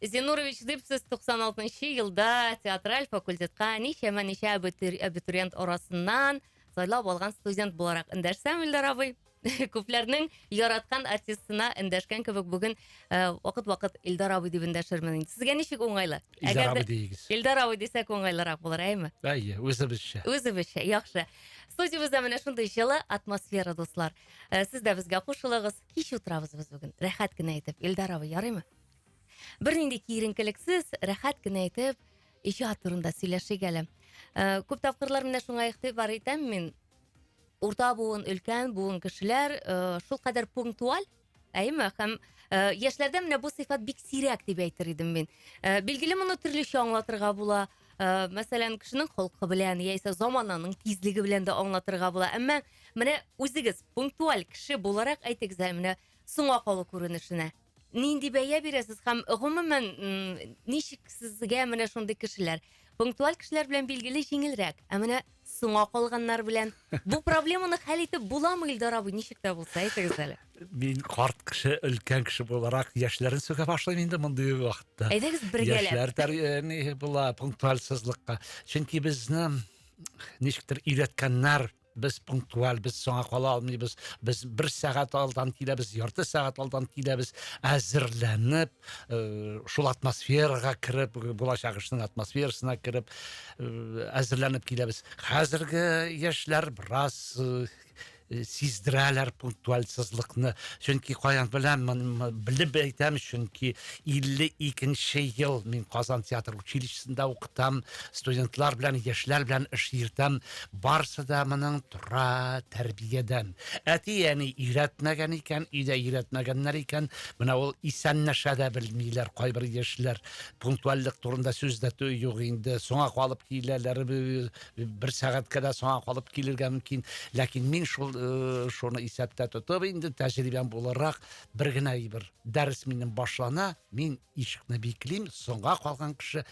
Зинурович, дип сез 96 нчы елда театраль факультетка ничәмә ничә абитуриент арасыннан сайлап алган студент буларак эндәшсәм, Илдар абый. күпләрнең яраткан артистына эндәшкән кебек бүген э, вакыт-вакыт Илдар абый дип эндәшермен инде. Сезгә ничек уңайлы? Илдар абый дигез. Илдар абый дисәк уңайлырак булыр, әйме? Әйе, үзебезчә. Үзебезчә, яхшы. Студиябездә менә шундый җылы атмосфера, дуслар. Э, сез дә безгә кушылыгыз. Кич утырабыз без бүген. Рәхәт кенә итеп. Илдар абый, ярыймы? Бернинди киеренкелексез, рәхәт кенә итеп иҗат турында сөйләшик әле. Э, күп тапкырлар менә шуңа игътибар итәм мин. Урта буын, өлкән буын кешеләр э, шул кадәр пунктуаль, әйме, һәм э, яшьләрдә менә бу сыйфат бик сирәк дип әйтер идем мин. Э, билгеле, моны төрлечә аңлатырга була. Э, мәсәлән, кешенең холкы белән яисә замананың тизлеге белән дә аңлатырга була. Әмма менә үзегез пунктуаль кеше буларак әйтегез әле менә соңга калу күренешенә. Нинди бәя бирәсез һәм гомумән ничек сезгә менә шундый кешеләр? Пунктуаль кешеләр белән билгеле җиңелрәк, ә менә соңа калганнар белән бу проблеманы хәл итеп буламы, Илдар абый, ничек тә булса, әйтегез әле. Мин карт кеше, өлкән кеше буларак яшьләрен сүгә башлыйм инде мондый вакытта. Әйдәгез бергәләп. Яшьләр тәрбияни була пунктуальсызлыкка. Чөнки безне ничектер өйрәткәннәр Без пунктуаль, без соңа кала алмыйбыз. Без бер сәгать алдан киләбез, ярты сәгать алдан киләбез, әзерләнеп, э, шул атмосферага кереп, булачак эшнең атмосферасына кереп, э, әзерләнеп киләбез. Хәзерге яшьләр бераз э, Э, сиздерәләр пунктуальсызлыкны чөнки каян беләм белеп әйтәм чөнки 52 ел мин казан театр училищесында укытам студентлар белән яшьләр белән эш йөртәм Барсы да моның тора тәрбиядән. Әти-әни өйрәтмәгән икән, өйдә өйрәтмәгәннәр икән, менә ул исәнләшә дә белмиләр кайбер яшьләр. Пунктуальлек турында сүз дә юк инде. Соңа калып киләләр, бер сәгатькә дә соңа калып килергә мөмкин. Ләкин мин шул э, шуны исәптә тотып инде тәҗрибәм буларак бер генә әйбер. Дәрес минем башлана, мин Ишекне биклим, соңга калган кеше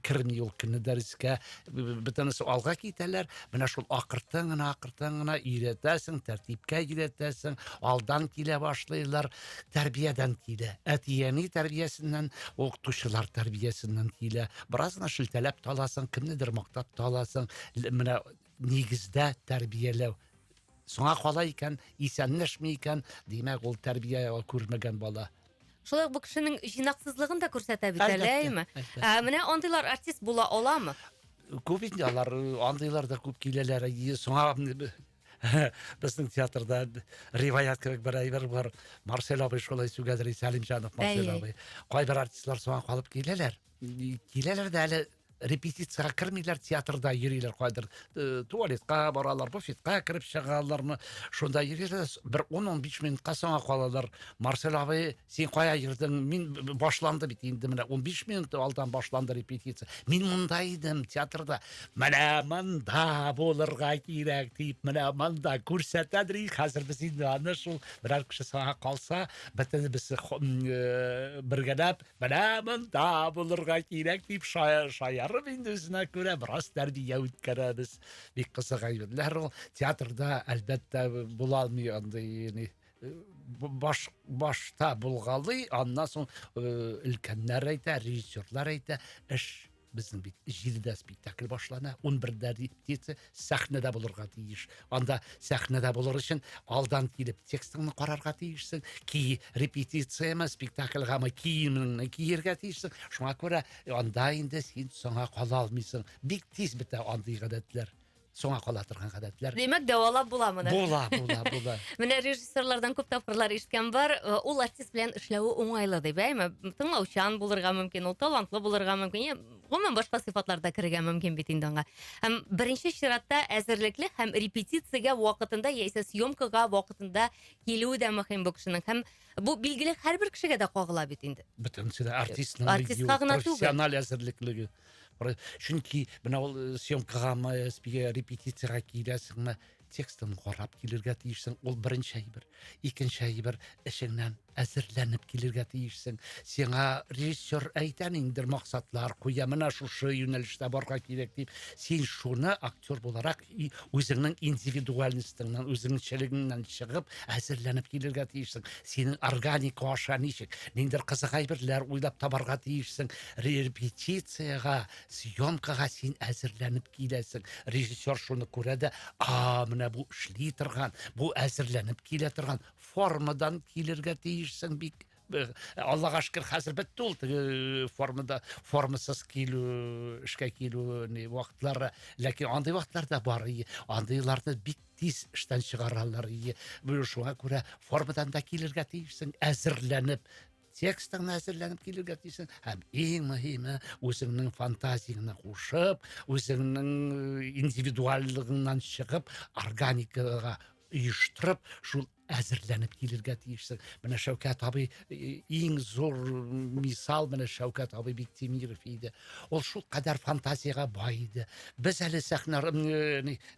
керми ул көнне дәрескә. Бөтенесе алга китәләр. Менә шул акыртын гына, акыртын гына өйрәтәсең, тәртипкә өйрәтәсең, алдан килә башлыйлар, тәрбиядән килә. Әти-әни тәрбиясеннән, укытучылар тәрбиясеннән килә. Бераз гына шелтәләп таласың, кемнедер мактап таласың. Менә нигездә тәрбияләү соңа кала икән исәнләшми икән димәк ул тәрбия күрмәгән бала Шулай ук бу кешенең җыйнаксызлыгын да күрсәтә бит әле, әйме? Ә менә андыйлар артист була аламы? Күп инде алар, андыйлар да күп киләләр. Соңа безнең театрда риваят кебек бер әйбер бар. Марсель абый шулай сүгәдер, Сәлимҗанов Марсель абый. Кайбер артистлар соңа калып киләләр. Киләләр дә әле репетициягә кермиләр театрда йөриләр кайдыр э, туалетка баралар буфетка кереп чыгалармы шунда йөриләр бер ун он биш минутка соңа калалар марсель абый син кая йөрдең мин башланды бит инде менә он биш минут алдан башланды репетиция мин монда идем театрда менә монда булырга кирәк дип менә монда күрсәтәдер и хәзер без инде аны шул берәр кеше соңа калса бөтенебез э, бергәләп Менә монда булырга кирәк дип шаярып инде үзенә күрә бераз тәрбия үткәрәбез. Бик кызык әйберләр ул. Театрда әлбәттә була алмый андый баш башта булгалый, аннан соң өлкәннәр әйтә, режиссерлар әйтә, эш Безнең бит җидедә спектакль башлана, унбердә репетиция, сәхнәдә булырга тиеш. Анда сәхнәдә булыр өчен алдан килеп текстыңны карарга тиешсең, ки репетицияме, спектакльгамы киемеңне киергә тиешсең. Шуңа күрә анда инде син соңа кала алмыйсың. Бик тиз бетә андый гадәтләр. соңа кала торган гадәтләр. Димәк, дәвалап була моны. Була, була, була. Менә режиссерлардан күп тапкырлар ишеткән бар, э, ул артист белән эшләве уңайлы дип, әйме? Тыңлаучан булырга мөмкин, ул талантлы булырга мөмкин. Гомумән башка сыйфатлар да керергә мөмкин бит инде аңа. Һәм беренче чиратта әзерлекле һәм репетициягә вакытында яисә съемкага вакытында килүе дә мөһим бу кешенең. Һәм бу билгеле һәрбер кешегә дә кагыла бит инде. Бөтенесе дә артистның артистка гына түгел. профессиональ әзерлеклеге. чөнки менә ул э, съемкагамы спиге э, репетицияга киләсеңме текстын карап килергә тиешсең ул беренче әйбер икенче әйбер эшеңнән әзерләнеп килергә тиешсең сиңа режиссер әйтә ниндидер максатлар куя менә шушы юнәлештә барырга кирәк дип син шуны актер буларак И үзеңнең индивидуальностеңнән, үзеңчелегеңнән чыгып, әзерләнеп килергә тиешсең. Синең органик аша ничек? Ниндер кызык әйберләр уйлап табарга тиешсең. Репетициягә, съемкага син әзерләнеп киләсең. Режиссер шуны күрә дә, а, менә бу эшли торган, бу әзерләнеп килә торган формадан килергә тиешсең бик Э, аллага шөкер хәзер бетте ул теге э, формада формасыз килү эшкә килү не вакытлары ләкин андый вакытлар да бар андыйларны бик тиз эштән чыгаралар шуңа күрә формадан да килергә тиешсең әзерләнеп текстыңны әзерләнеп килергә тиешсең һәм иң мөһиме үзеңнең фантазияңне кушып үзеңнең э, индивидуальлыгыңнан чыгып органикага оештырып шул әзерләнеп килергә тиешсең менә шәүкәт абый иң зур мисал менә шәүкәт абый биктимиров иде ул шул кадәр фантазиягә бай иде без әле сәхнә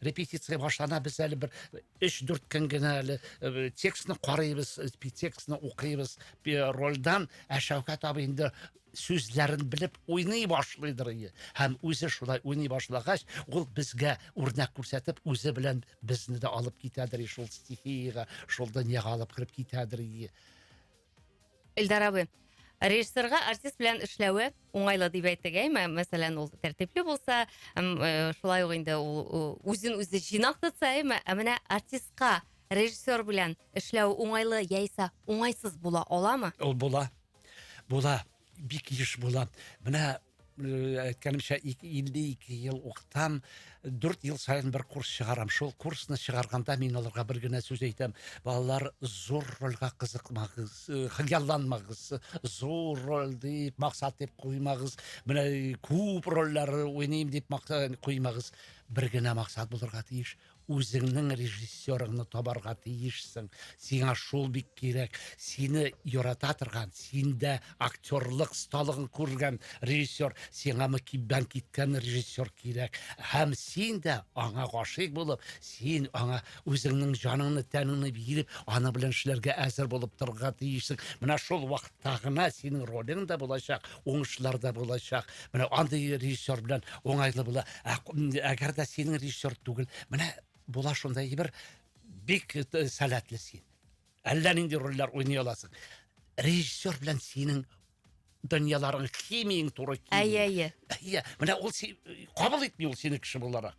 репетиция башлана без әле бер өч дүрт көн генә әле текстны карыйбыз текстны укыйбыз рольдан ә шәүкәт абый инде сүзләрен белеп уйный башлыйдыр ие. Һәм үзе шулай уйный башлагач, ул безгә үрнәк күрсәтеп, үзе белән безне дә алып китәдер ие, шул стихиягә, шул дөньяга алып кереп китәдер ие. Эльдар абый, режиссерга артист белән эшләве уңайлы дип әйтик, әйме? Мәсәлән, ул тәртипле булса, э, шулай ук инде ул үзен үзе җыйнак тотса, әйме? Ә менә артистка режиссер белән эшләү уңайлы яисә уңайсыз була аламы? Ул була. Була, бик еш була. Менә э, әйткәнемчә 52 ел укытам, 4 ел саен бер курс чыгарам. Шул курсны чыгарганда мин аларга бер генә сүз әйтәм. Балалар, зур рольгә кызыкмагыз, э, хыялланмагыз, зур роль дип, максат дип куймагыз. Менә күп рольләр уйныйм дип максат куймагыз. Бер генә максат булырга тиеш. Үзеңнең режиссерыңны табарга тиешсең. Сиңа шул бик кирәк. Сине ярата торган, синдә актерлык сталыгын күргән режиссер, сиңа мөкиббән киткән режиссер кирәк. Һәм син дә аңа гашыйк булып, син аңа үзеңнең җаныңны, тәнеңне биреп, аның белән эшләргә әзер булып торырга тиешсең. Менә шул вакытта гына синең ролең дә булачак, уңышлар да булачак. Менә андый режиссер белән уңайлы була. Ә, әгәр дә синең режиссер түгел, менә була шундай бер бик сәләтле син. Әллә нинди рольләр уйный аласың. Режиссер белән синең дөньяларың химияң туры килми. Әйе, әйе. Әйе, менә ул кабул итми ул сине кеше буларак.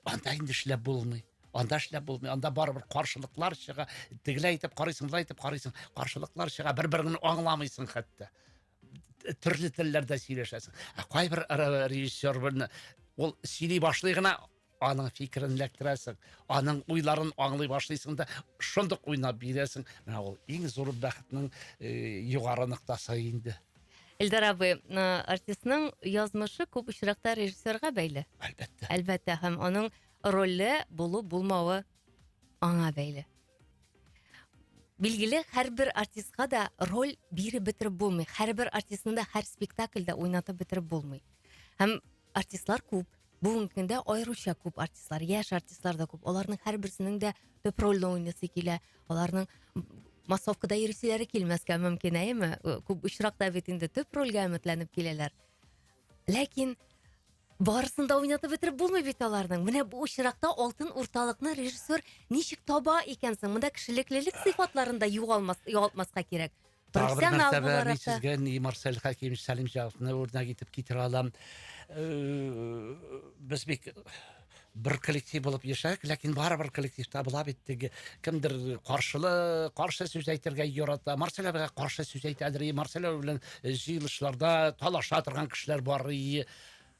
Анда инде эшләп булмый. Анда эшләп булмый. Анда барыбер каршылыклар чыга. Тегеләй итеп карыйсың, былай итеп карыйсың. Каршылыклар чыга. Бер-береңне аңламыйсың хәтта. төрле телләрдә сөйләшәсең ә кайбер режиссер белән ул сөйли башлый гына аның фикерен эләктерәсең аның уйларын аңлый башлыйсың да шундук уйнап бирәсең менә ул иң зур бәхетнең югары ноктасы инде Эльдар абый, э, артистның язмышы күп очракта режиссерга бәйле. Әлбәттә. Әлбәттә, һәм аның роле булу булмавы аңа бәйле. Билгеле, һәрбер артистка да роль биреп бетереп булмый. Һәрбер артистны да һәр спектакльдә уйнатып бетереп булмый. Һәм артистлар күп. Бүгенге көндә аеруча күп артистлар, яшь артистлар да күп. Аларның һәрберсенең дә төп рольне уйнасы килә. Аларның массовкада йөрүчеләре килмәскә мөмкин, әйеме? Күп очракта бит инде төп рольгә өметләнеп киләләр. Ләкин Барысын да уйнатып бетереп булмый бит аларның. Менә бу очракта алтын урталыкны режиссер ничек таба икән соң? Монда кешелеклелек сыйфатларын да югалмас, югалтмаска кирәк. Тагы бер Профессионал нәрсә белән мин буларак та. сезгә ни Марсель Хәким, Сәлим Җавадны үрнәк итеп китерә алам. Э, Без бик бер коллектив булып яшәдек ләкин барыбер коллективта була бит теге кемдер каршылы каршы сүз әйтергә ярата марсель абыйга каршы сүз әйтәдер марсель абый белән э, җыелышларда талаша торган кешеләр бар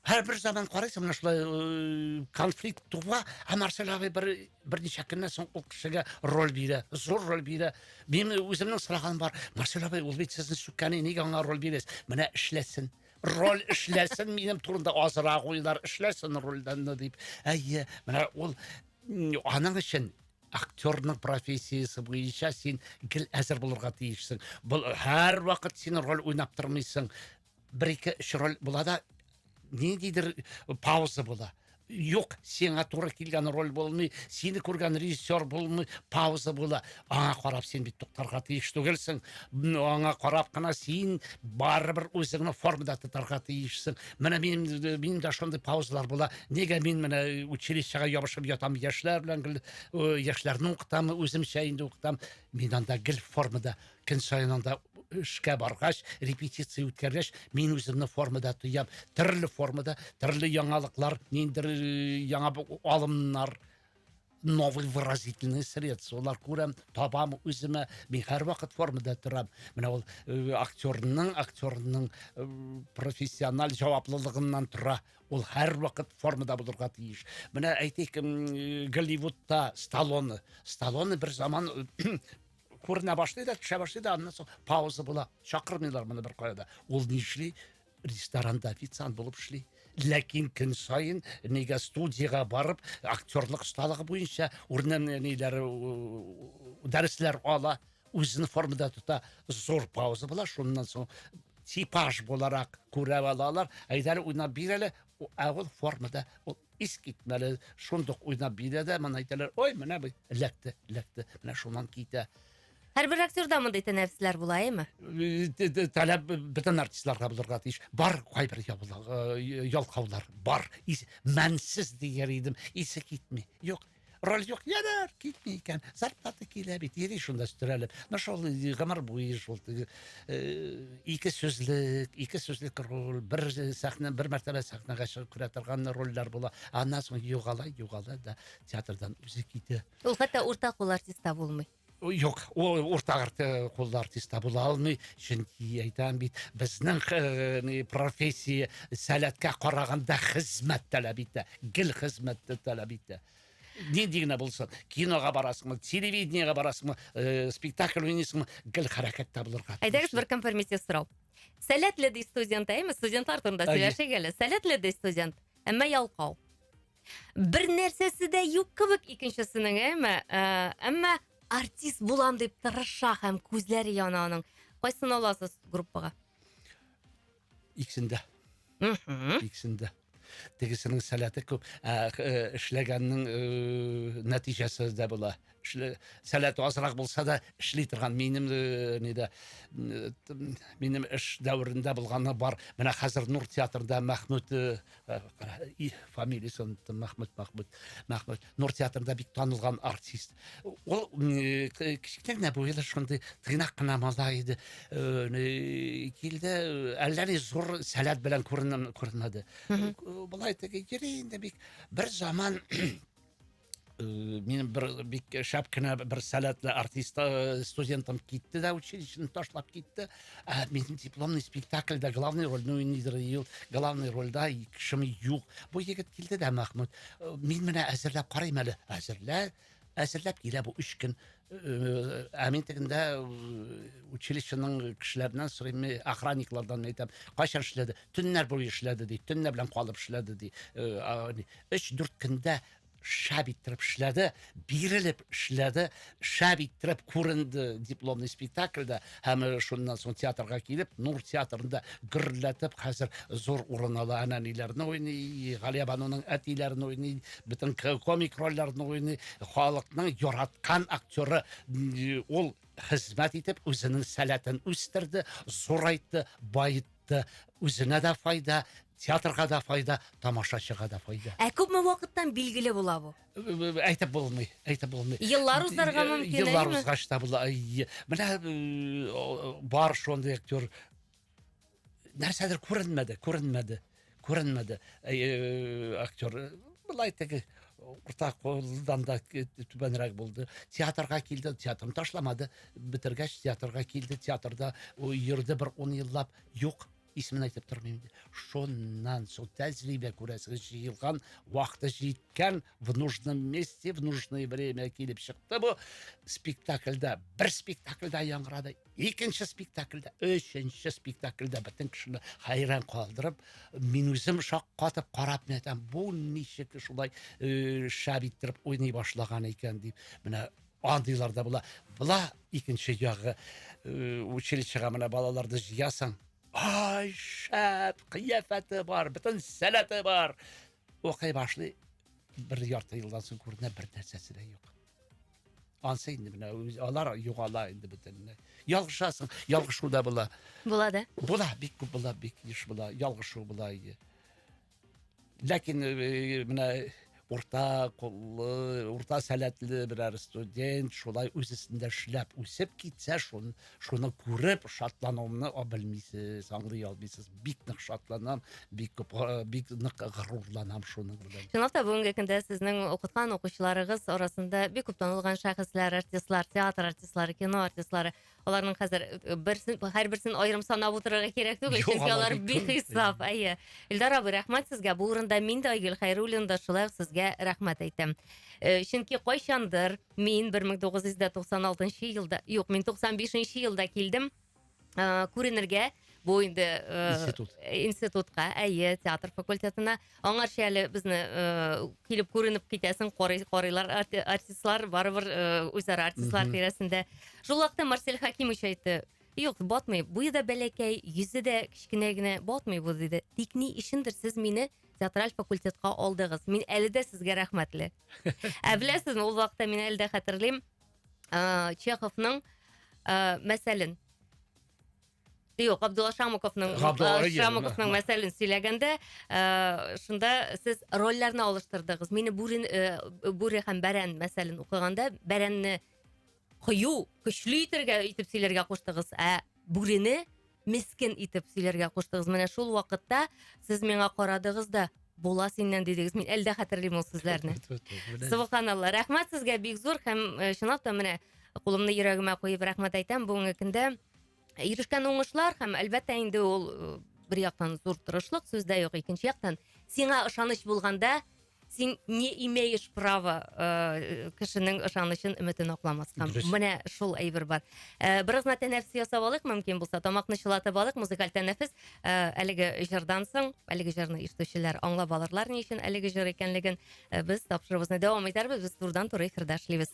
һәр бер заман карайсың менә шулай э, конфликт туа ә марсель абый бер берничә көннән соң ул кешегә роль бирә зур роль бирә мин үземнең сораганым бар марсель абый ул бит сезне сүккәне нигә аңа роль бирәсез менә эшләсен роль эшләсен минем турында азрак уйлар эшләсен рольдәнне дип әйе менә ул аның өчен актерның профессиясе буенча син гел әзер булырга тиешсең был һәрвакыт син роль уйнап тормыйсың бер ике өч роль була да ниндидер пауза була Юк, сиңа туры килгән роль булмый, сине күргән режиссер булмый, пауза була. Аңа карап син бит туктарга тиеш түгелсең. Аңа карап кына син барыбер үзеңне формада тотарга тиешсең. Менә минем минем дә шундый паузалар була. Нигә мин менә училищега ябышып ятам яшьләр белән гел яшьләрне укытам, үземчә инде укытам. Мин анда гел формада Көн саен анда эшкә баргач, репетиция үткәргәч, мин үземне формада тоям. Төрле формада, төрле яңалыклар, ниндер яңа алымнар, новый выразительный средстволар күрәм, табам үземә. Мин һәрвакыт формада торам. Менә ул э, актерның, актерның э, профессиональ җаваплылыгыннан тора. Ул һәрвакыт формада булырга тиеш. Менә әйтик, э, Голливудта Сталлоне. Сталлоне бер заман күренә башлый да төшә башлый да аннан соң пауза була чакырмыйлар моны беркая да ул ни эшли ресторанда официант булып эшли ләкин көн саен нигә студияга барып актерлык осталыгы буенча урыннан ниләр дәресләр ала үзен формада тота зур пауза була шуннан соң типаж буларак күрә алалар әйдәле уйнап бир әле ә ул формада ул Искитмәле шундук уйнап бирә дә, моны әйтәләр, ой, менә бу эләкте, эләкте, менә шуннан китә. Һәрбер актерда мондый тәнәрсләр була, әйме? Таләп бөтен артистларга булырга тиеш. Бар кайбер ялкаулар, бар. Мәнсез дияр идем, исе китми. Юк, Роль юк, ярар, китми икән. Зарплата килә бит, йөри шунда өстерәлеп. Ну шул гомер буе шул теге э, ике сүзлек, ике сүзлек роль, бер сәхнә, бер мәртәбә сәхнәгә чыгып күрә торган рольләр була. Аннан соң югала, югала да театрдан үзе китә. Ул хәтта уртак ул артистта булмый. Юк, ул урта арты куллы артистта була алмый, чөнки әйтәм бит, безнең э, профессия сәләткә караганда хезмәт таләп итә, гел хезмәтте таләп итә. Нинди генә булсын, кинога барасыңмы, телевидениега барасыңмы, э, спектакль уйныйсыңмы, гел хәрәкәттә булырга. Әйдәгез бер конформитив сорау. Сәләтле ди студент, әйме? Студентлар турында сөйләшик әле. Сәләтле ди студент, әмма ялкау. Бер нәрсәсе дә юк кебек икенчесенең, әйме? Ә, әмма артист булам дип тырыша һәм күзләре яна аның. Кайсын аласыз группага? Иксендә. Иксендә. Тегесенең сәләте күп, ә, э, эшләгәннең э, нәтиҗәсе дә була. эшле сәләте азрак булса да эшли торган минем э, нидә э, минем эш дәверендә булганы бар менә хәзер нур театрында мәхмүт э, и фамилиясе оныттым мәхмүт мәхмүт мәхмүт нур театрында бик танылган артист ул кечкенә генә буйлы шундый тыйнак кына малай иде килде әллә ни зур сәләт белән күренмәде болай теге йөри инде бик бер заман Э, минем бер бик шәп кенә бер сәләтле артист э, студентым китте дә училищены ташлап китте ә минем дипломный спектакльдә главный рольне уйныйдыр ел главный рольдә кешем юк бу егет килде дә махмуд э, мин менә әзерләп карыйм әле әзерлә әзерләп килә бу өч көн ә мин тегендә училищеның кешеләреннән сорыйм охранниклардан әйтәм кайчан эшләде төннәр буе эшләде ди төннәр белән калып эшләде ди өч дүрт көндә шәп иттереп эшләде, бирелеп эшләде, шәп иттереп күренде дипломный спектакльдә һәм э, шуннан соң театрга килеп, Нур театрында гөрләтеп хәзер зур урын ала. Әнәниләрне уйный, Галия бануның әтиләрен уйный, бөтен комик рольләрне уйный. Халыкның яраткан актеры ул хезмәт итеп үзенең сәләтен үстерде, зурайтты, байытты. чыкты. Үзенә дә файда, театрга да файда, тамашачыга да файда. Ә күпме вакыттан билгеле була бу? Әйтеп булмый, әйтеп булмый. Еллар узарга мөмкин, Еллар әйеме? узгач та була. Әйе. Менә э, бар шундый актер нәрсәдер күренмәде, күренмәде. Күренмәде. Актер былай теге урта кулдан да түбәнрәк булды. Театрга килде, театрны ташламады. Бетергәч театрга килде, театрда йөрде бер 10 еллап. Юк, исемен әйтеп тормыйм инде. Шуннан соң тәҗрибә күрәсегез җыелган, вакыты җиткән, в нужном месте, в нужное время килеп чыкты бу. Спектакльдә, бер спектакльдә яңгырады. Икенче спектакльдә, өченче спектакльдә бөтен кешене хәйран калдырып, мин үзем шаккатып карап нәтәм, бу ничек шулай э, шәп иттереп уйный башлаган икән дип. Менә андыйлар да була. Була икенче ягы э, училищега менә балаларды җыясың. Ай, шәп, кыяфәте бар, бөтен сәләте бар. Укый башлый, бер ярты елдан соң күренә бер нәрсәсе дә юк. Ансы инде менә үз алар югала инде бөтенләй. Ялгышасың, ялгышу да була. Була да. Була, бик күп була, бик еш була, ялгышу була иде. Ләкин э, менә урта куллы, урта сәләтле берәр студент шулай үз өстендә эшләп үсеп китсә, шун шуны күреп шатлануымны белмисез аңлый алмыйсыз бик нык шатланам бик күп бик нык горурланам шуның белән чынлап та бүгенге көндә сезнең укыткан укучыларыгыз арасында бик күп танылган шәхесләр артистлар театр артистлары кино артистлары аларның хәзер э, берсен һәрберсен аерым санап утырырга кирәк түгел чөнки алар бихисап әйе илдар абый рәхмәт сезгә бу урында мин дә айгөл хәйруллин да шулай ук сезгә рәхмәт әйтәм э, чөнки кайчандыр Мин 1996 елда, юк, мин 95 елда килдем ә, күренергә, бу инде ә, институт. институтка, әйе, театр факультетына. Аңарча әле безне ә, килеп күренеп китәсең, карый, карыйлар арти, артистлар, барыбер ә, үзара артистлар тирәсендә. Шул вакытта Марсель Хакимович әйтте, Юк, батмый. Буе да бәләкәй, йөзе дә кечкенә генә, батмый бу, диде. Тик ни өчендер сез мине театраль факультетка алдыгыз. Мин әле дә сезгә рәхмәтле. Ә беләсезме, ул вакытта мин әле дә хәтерлим, ә, Чеховның ә, мәсәлен Юк, Абдулла Шамуковның Габдулла Регин, Шамуковның да. мәсәлен сөйләгәндә, э, шунда сез рольләрне алыштырдыгыз. Мине бүрен э, бүре һәм бәрән мәсәлен укыганда, бәрәнне кыю, көчле итергә итеп сөйләргә куштыгыз, ә бүрене мескен итеп сөйләргә куштыгыз менә шул вакытта сез миңа карадыгыз да була синнән дидегез мин әле дә хәтерлим ул сүзләрне субханалла рәхмәт сезгә бик зур һәм э, чынлап та менә кулымны йөрәгемә куеп рәхмәт әйтәм бүгенге көндә ирешкән уңышлар һәм әлбәттә инде ул э, бер яктан зур тырышлык сүз дә юк икенче яктан сиңа ышаныч булганда син не имеешь право ыыы кешенең ышанычын өметен акламаска дөрес менә шул әйбер бар ә, бераз гына тәнәфес ясап алыйк мөмкин булса тамакны чылатып алыйк музыкаль тәнәфес ә, әлеге җырдан соң әлеге җырны ишетүчеләр аңлап алырлар ни өчен әлеге җыр икәнлеген ә, без тапшыруыбызны дәвам итәрбез без турыдан туры эфирда эшлибез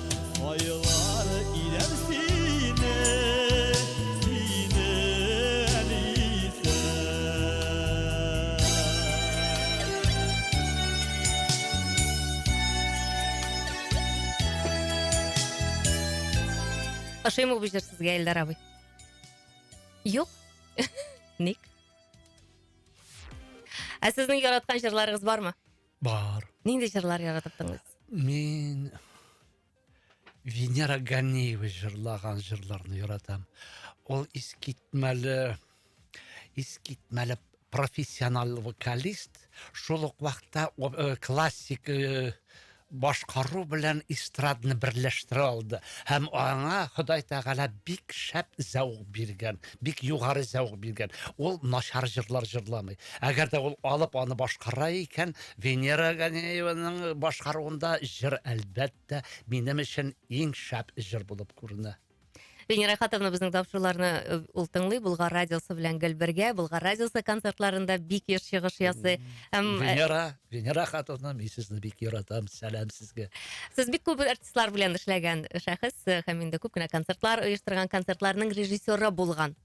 Ошыймы бу җыр сезгә, Эльдар абый? Юк. Ник? Ә сезнең яраткан җырларыгыз бармы? Бар. Нинди җырлар яратып тыңлыйсыз? Мин Венера Ганиева җырлаган җырларны яратам. Ул искитмәле искитмәле профессиональ вокалист, шул ук вакытта э, классик э, башкару белән эстрадны берләштерә алды һәм аңа Ходай Тәгалә бик шәп зәвык биргән. бик югары зәвык биргән. Ул начар җырлар җырламый. Әгәр дә ул алып аны башкара икән, Венера Ганееваның башкаруында җыр әлбәттә минем өчен иң шәп җыр булып күренә. Венера Хатовна безнең тапшыруларны э, ул тыңлый Булгар радиосы белән гел бергә. Булгар радиосы концертларында бик еш чыгыш ясый. Һәм э, Венера, Венера Хатовна, мин сезне бик яратам. Сәлам сезгә. сез бик күп артистлар белән эшләгән шәхес һәм инде күп кенә концертлар оештырган, концертларның режиссеры булган.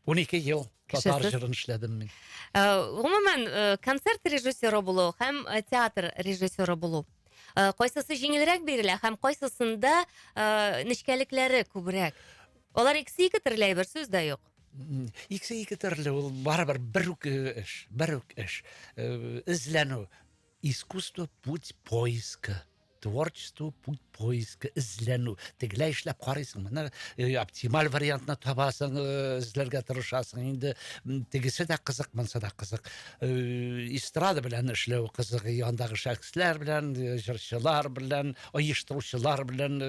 Унике ел татар җырын эшләдем мин. Э, гомумән, э, концерт режиссеры булу һәм э, театр режиссеры булу. Кайсысы җиңелрәк бирелә һәм кайсысында нечкәлекләре күбрәк? Алар икесе ике төрле әйбер, сүз дә юк. Икесе ике төрле, ул барыбер бер үк эш, бер үк эш. Эзләнү. Искусство путь поиска. творчество путь поиска эзләнү тегеләй эшләп карыйсың менә э, оптималь вариантны табасың э, эзләргә тырышасың инде тегесе дә кызык монсы да кызык э, эстрада белән эшләү кызык андагы шәхесләр белән җырчылар белән оештыручылар белән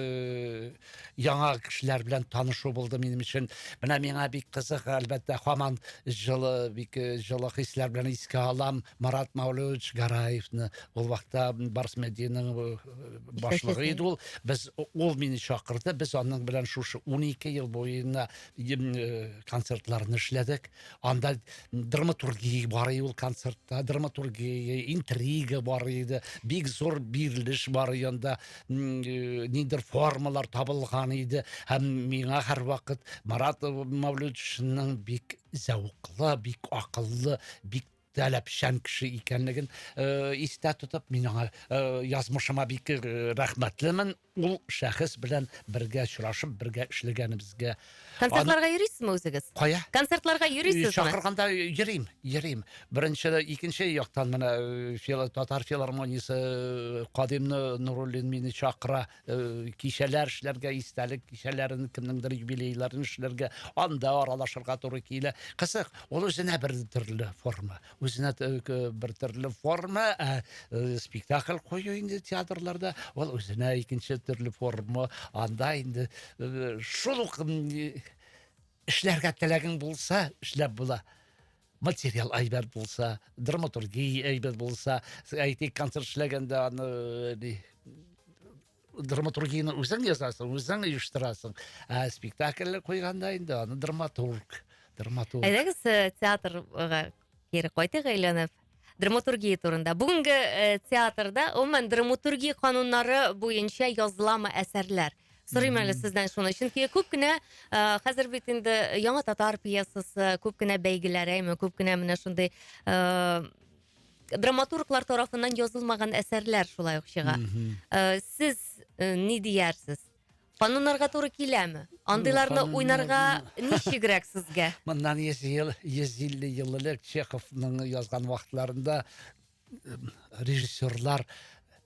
яңа кешеләр белән танышу булды минем өчен. Менә миңа бик кызык, әлбәттә, хаман җылы, бик э, җылы хисләр белән искә алам Марат Мәүлевич Гараевны. Ул вакытта Барс Медианың э, башлыгы иде ул. Без ул мине чакырды. Без аның белән шушы 12 ел буена э, концертларны эшләдек. Анда драматургия бар иде ул концертта, драматургия, интрига бар иде. Бик зур бирелеш бар иде анда. э, ниндер формалар табылган иде һәм миңа һәрвакыт марат мәүлүдовичның бик зәвыклы бик акыллы бик таләпчән кеше икәнлеген э, истә тотып мин аңа э, язмышыма бик э, рәхмәтлемен ул шәхес белән бергә очрашып бергә эшләгәнебезгә э, Концертларга йөрисезме үзегез? Кая? Концертларга йөрисезме? Чакырганда йөрим, йөрим. Беренче, икенче яктан менә э, татар филармониясе э, Кадимны Нуруллин мине чакыра э, кичәләр эшләргә, истәлек кичәләрен, кемнеңдер юбилейларын эшләргә, анда аралашырга туры килә. Кызык, ул үзенә бер төрле форма. үзенә бер төрле форма ә э, спектакль кую инде театрларда ул үзенә икенче төрле форма анда инде э, шул ук эшләргә теләгең булса эшләп була материал әйбәт булса драматургия әйбәт булса әйтик концерт эшләгәндә аны э, драматургияне үзең язасың үзең оештырасың ә спектакльләр куйганда инде аны драматург драматург әйдәгез э, театрга кире кайтыйк әйләнеп драматургия турында бүгенге э, театрда гомумән драматургия кануннары буенча языламы әсәрләр сорыйм әле сездән шуны чөнки күп кенә э, хәзер бит инде яңа татар пьесасы күп кенә бәйгеләр әйме күп кенә менә шундый драматурглар тарафыннан язылмаган әсәрләр шулай ук чыга. Э, Сез э, ни диярсез? Кануннарга туры киләме? Андыйларны Кануннар- уйнарга ничегрәк сезгә? Моннан 100 ел, 150 ел элек Чеховның язган вакытларында э, режиссерлар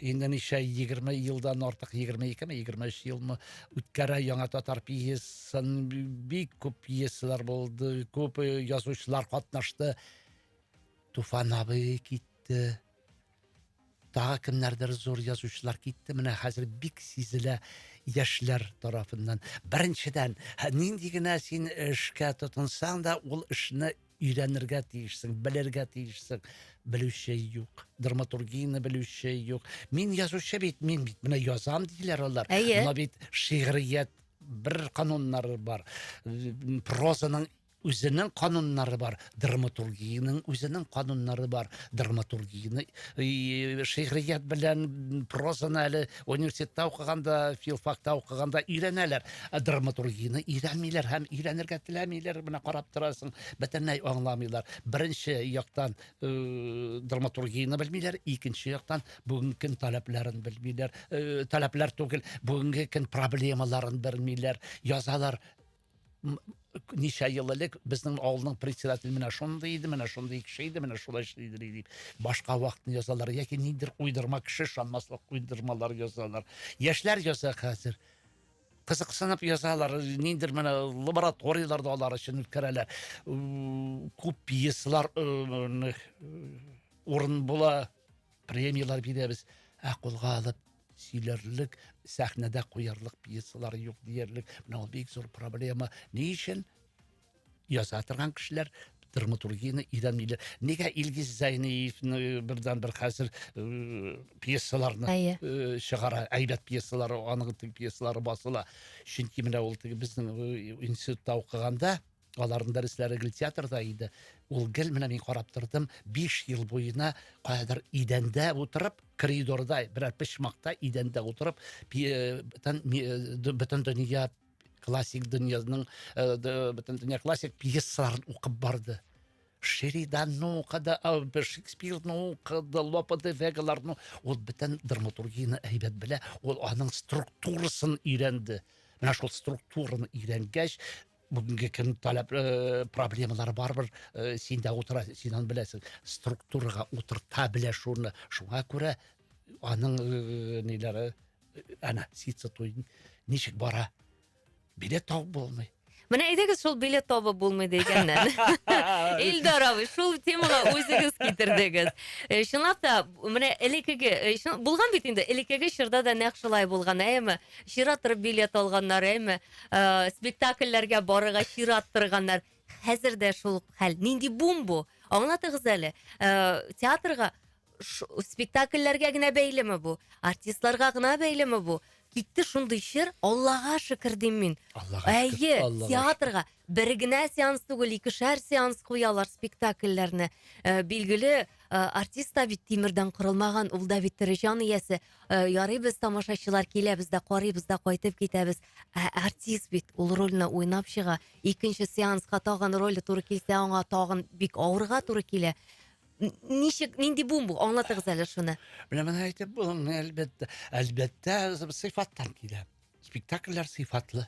Инде ничә 20 елдан артык 22 ме 23 елмы үткәрә яңа татар пьесын бик күп пьесалар булды күп язучылар катнашты Туфан абый китте тагы кемнәрдер зур язучылар китте менә хәзер бик сизелә яшьләр тарафыннан беренчедән нинди генә син эшкә тотынсаң да ул эшне өйрәнергә тиешсең, белергә тиешсең. Белүче юк, драматургияне белүче юк. Мин язучы бит, мин бит менә язам диләр алар. Әйе. Менә бит шигърият бер кануннары бар. Прозаның үзенең кануннары бар, драматургияның үзенең кануннары бар. Драматургияне шигърият белән прозаны әле Университетта укыганда, филфакта укыганда өйрәнәләр. Ә драматургияне өйрәнмиләр һәм өйрәнергә теләмиләр. Менә карап торасың, бөтенләй аңламыйлар. Беренче яктан э, драматургияне белмиләр, икенче яктан бүгенге көн таләпләрен белмиләр. Э, таләпләр түгел, бүгенге көн проблемаларын белмиләр. Язалар ничә ел элек безнең авылның председателе менә шундый иде менә шундый кеше иде менә шулай эшлидер дип башка вакытны язалар яки ниндидер уйдырма кеше ышанмаслык уйдырмалар язалар яшьләр яза хәзер кызыксынып язалар ниндидер менә лабораторияләрдә алар өчен үткәрәләр күп пьесалар урын була Премияләр бирәбез, ә кулга алып сөйләрлек, сәхнәдә куярлык пьесалар юк диярлек. Менә ул бик зур проблема. Ни өчен? Яза торган кешеләр драматургияне өйрәнмиләр. Нигә Илгиз Зайниевны э, бердән бер хәзер э, пьесаларны Әйе. э, чыгара, әйбәт пьесалары, аның теге пьесалары басыла. Чөнки менә ул теге безнең э, институтта укыганда Аларның дәресләре гел театрда иде. Ул гел менә мин карап тордым, 5 ел буена каядыр идәндә утырып, коридорда, берәр почмакта идәндә утырып, э, бөтен э, дөнья классик дөньяның э, бөтен дөнья классик пьесаларын укып барды. Шериданны укыды, Шекспирны укыды, Лопе де Вегаларны, ул бөтен драматургияне әйбәт белә, ул аның структурасын өйрәнде. Менә шул структураны өйрәнгәч, Бүгенге көн таләп э, проблемалары барбер э, син дә утыра, син аны беләсең. Структурага утырта белә шуны. Шуңа күрә аның э, ниләре әнә ситсы туйын ничек бара. Билет табып булмый. Менә әйдәгез шул билет табып булмый дигәннән. Илдар абый, шул темага үзегез китердегез. Чынлап та, менә элекеге, булган бит инде, элекеге чорда да нәкъ шулай булган, әйеме? Чират торып билет алганнар, әйме? Э, спектакльләргә барырга чират торганнар. Хәзер дә шул хәл. Нинди бум бу? Аңлатыгыз әле. Э, театрга ш- спектакльләргә генә бәйлеме бу? Артистларга гына бәйлеме бу? Китте шундый чир, Аллага шөкер дим мин. Аллага Әйе, шөкер, Аллага шөкер. театрга бер генә сеанс түгел, икешәр сеанс куялар спектакльләрне. Э, билгеле, э, артист та бит тимердән корылмаган, ул да бит тере җан иясе. Э, ярый без тамашачылар киләбез дә карыйбыз да кайтып китәбез ә артист бит ул рольне уйнап чыга икенче сеансқа тагын роль туры килсә аңа тагын бик авырга туры килә ничек нинди буын бу аңлатыгыз әле шуны менә моны әйтеп булмый әлбәттә әлбәттә сыйфаттан килә спектакльләр сыйфатлы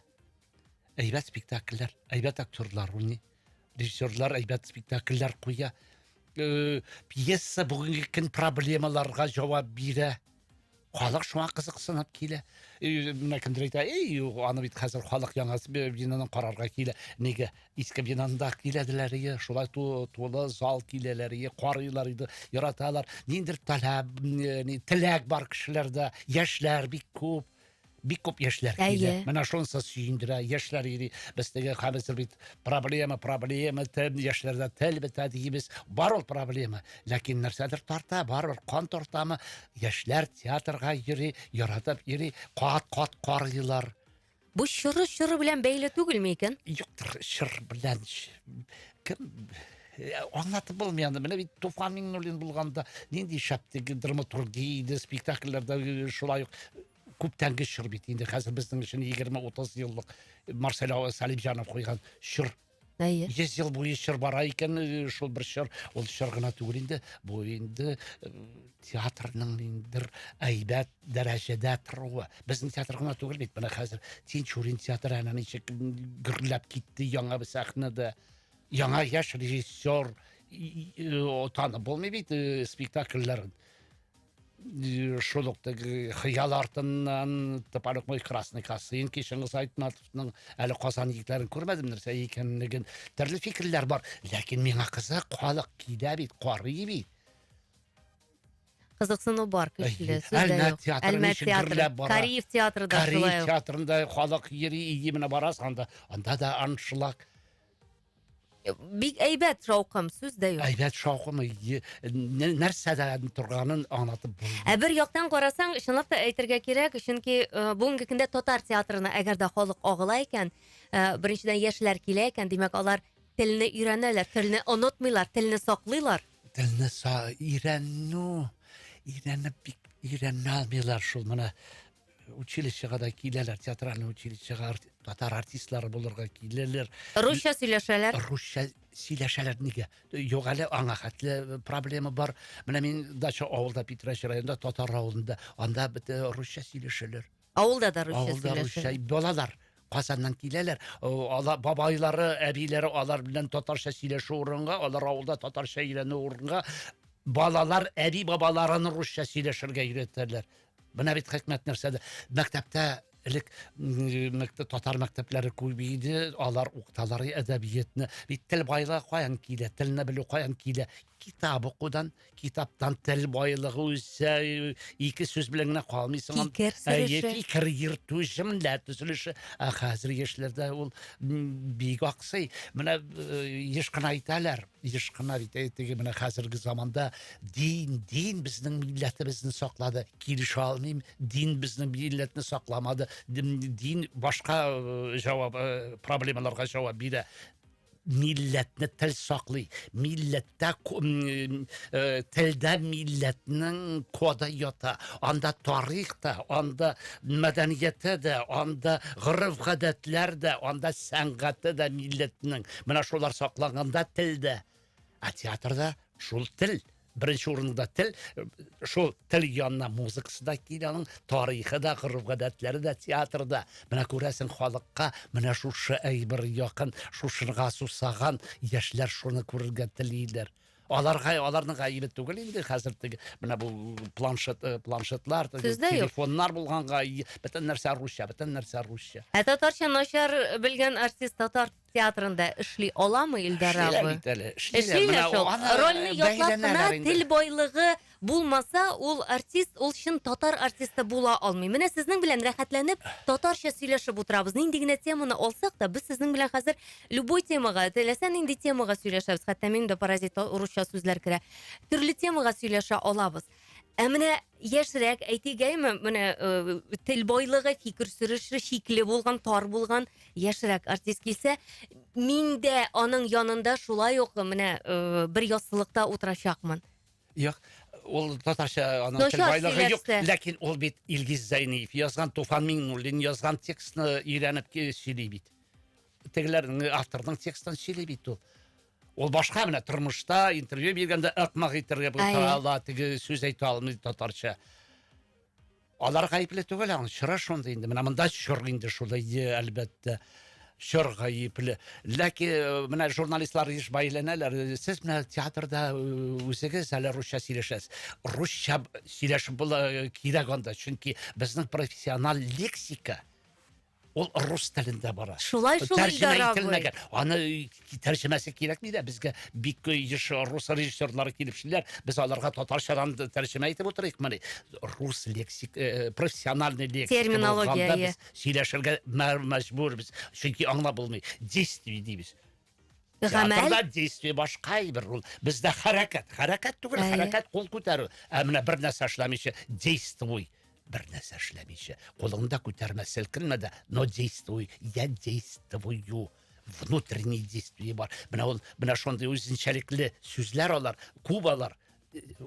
әйбәт спектакльләр әйбәт актерлар уйный режиссерлар әйбәт спектакльләр куя э, пьеса бүгенге көн проблемаларга җавап бирә халык шуңа кызыксынып килә э, менә кемдер әйтә эй аны бит хәзер халык яңа бинаны карарга килә нигә иске бинаны да киләделәр ие шулай тулы зал киләләр ие карыйлар иде яраталар ниндидер таләп э, теләк бар кешеләрдә яшьләр бик күп бик күп яшьләр килә. Менә шунысы сөендерә, яшьләр йөри. Без теге хәзер бит проблема, проблема, тел, яшьләрдә тел бетә дибез. Бар ул проблема. Ләкин нәрсәдер тарта, бар ул кан тартамы? Яшьләр театрга йөри, яратып йөри, кат-кат карыйлар. Бу чоры чоры белән бәйле түгелме икән? Юктыр, чор белән кем Э, аңлатып булмый аны менә бит туфан миңнуллин булганда нинди шәп теге драматургия иде спектакльләрдә э, шулай ук э, күптәнге чор бит инде хәзер безнең өчен егерме утыз еллык марсель салимҗанов куйган чор әйе йөз ел буе чор бара икән шул бер чор ул чор гына түгел инде бу инде театрның ниндидер әйбәт дәрәҗәдә торуы безнең театр гына түгел бит менә хәзер тинчурин театры әнә ничек гөрләп китте яңа бер сәхнәдә Яңа яшь режиссер танып булмый бит э, спектакльләрен. Э, шул ук теге хыял артыннан топорок мой красный косынки кишеңіз айтматовның әле казан егетләрен күрмәдем нәрсә икәнлеген төрле фикерләр бар ләкин миңа кызык халык килә бит карый бит кызыксыну бар көчле сүз әлмәт театры кариев театры да шулай кариев театрында халык йөри именно барасың анда анда да аншлаг Бик әйбәт шаукым, сүз дә юк. Әйбәт шаукымы нәрсәдә торганын аңлатып булмый. Ә бер яктан карасаң, чынлап та әйтергә кирәк, чөнки э, бүгенге көндә татар театрына әгәр дә халык агыла икән, э, беренчедән яшьләр килә икән, димәк алар телне өйрәнәләр, телне онытмыйлар, телне саклыйлар. Телне са өйрәнү, өйрәнеп бик өйрәнә алмыйлар шул менә училищега да киләләр, театральный училищега татар артистлары булырга киләләр. Русча сөйләшәләр. Русча сөйләшәләр нигә? Юк әле аңа хәтле э, проблема бар. Менә мин дача авылда Питрәч районында татар авылында, анда бит э, русча сөйләшәләр. Авылда да русча сөйләшәләр. Авылда русча балалар Казаннан киләләр. Алар бабайлары, әбиләре алар белән татарча сөйләшү урынга, алар авылда татарча өйрәнү урынга балалар әби бабаларын русча сөйләшергә өйрәтәләр. Менә бит хикмәт нәрсәдә. Мәктәптә элек мәктәп татар мәктәпләре күп иде, алар укыталар әдәбиятны. Бит тел байлыгы каян килә? Телне белү каян килә? Китап укудан, китаптан тел байлыгы үсә, ике сүз белән генә калмыйсың. Фикер сөрешү. Фикер йөртү, җөмлә төзелеше. Ә хәзер яшьләрдә ул бик аксый. Менә еш кына әйтәләр. Еш кына бит э, теге менә хәзерге заманда дин, дин безнең милләтебезне саклады. Килешә алмыйм, дин безнең милләтне сакламады. Дин башка э, җавап, э, проблемаларга җавап бирә. Милләтне тел саклый. Милләттә телдә милләтнең коды ята. Анда тарих та, анда мәдәнияте дә, анда гореф-гадәтләр дә, анда сәнгате дә милләтнең. Менә шулар сакланганда тел дә, ә театрда шул тел беренче урында тел шул тел янына музыкасы да килә аның тарихы да гореф гадәтләре дә театрда менә күрәсең халыкка менә шушы әйбер якын шушыга сусаган яшьләр шуны күрергә телиләр аларга аларның гаебе түгел инде хәзер теге менә бу планшет э, планшетлар телефоннар булганга бөтен нәрсә русча бөтен нәрсә русча ә татарча начар белгән артист татар театрында эшли аламы Илдар Эшлиләр абый? бит әле, эшлиләр. Эшлиләр Менә шул. аны Рольне ятлап кына бәйләнәләр инде. тел байлыгы булмаса, ул артист, ул чын татар артисты була алмый. Менә сезнең белән рәхәтләнеп татарча сөйләшеп утырабыз. Нинди генә теманы алсак та, без сезнең белән хәзер любой темага, теләсә нинди темага сөйләшәбез. Хәтта минем дә паразитка урысча сүзләр керә. Төрле темага сөйләшә алабыз. Ә менә яшьрәк әйтегәйме, менә э, тел байлыгы, фикер сөреше шикле булган, тар булган яшьрәк артист килсә, мин дә аның янында шулай ук менә э, бер яссылыкта утырачакмын. Юк, ул татарча аның тел байлыгы юк, ләкин ул бит Илгиз Зәйниев язган, Туфан Миңнуллин язган текстны өйрәнеп сөйли бит. тегеләр авторның текстын сөйли бит ул ул башка менә тормышта интервью биргәндә ыкмак итәргә булса ала теге сүз әйтә алмый татарча алар гаепле түгел аның чоры шундый инде менә монда чор инде шулай әлбәттә чор гаепле ләкин э, менә журналистлар еш бәйләнәләр сез менә театрда э, үзегез әле русча сөйләшәсез русча сөйләшеп була э, кирәк анда чөнки безнең профессиональ лексика Ул рус телендә бара. Шулай шул Тәрҗемә ителмәгән. Аны тәрҗемәсе кирәкми дә безгә бик еш рус режиссерлары килеп эшлиләр. Без аларга татарчадан тәрҗемә итеп утырыйк мыни? Рус лексик, э, профессиональный лексик. Терминология. Сөйләшергә мәҗбүрбез. Чөнки аңлап булмый. Действие дибез. Гамәл действие башка әйбер ул. Бездә хәрәкәт, хәрәкәт түгел, хәрәкәт кул күтәрү. Ә менә бер нәрсә эшләмичә, действуй. Бер нәрсә эшләмичә. Кулыңда күтәрмә, селкенмә дә, но действуй. Я действую внутренний действие бар. Менә ул, менә шундый үзенчәлекле сүзләр алар, кубалар.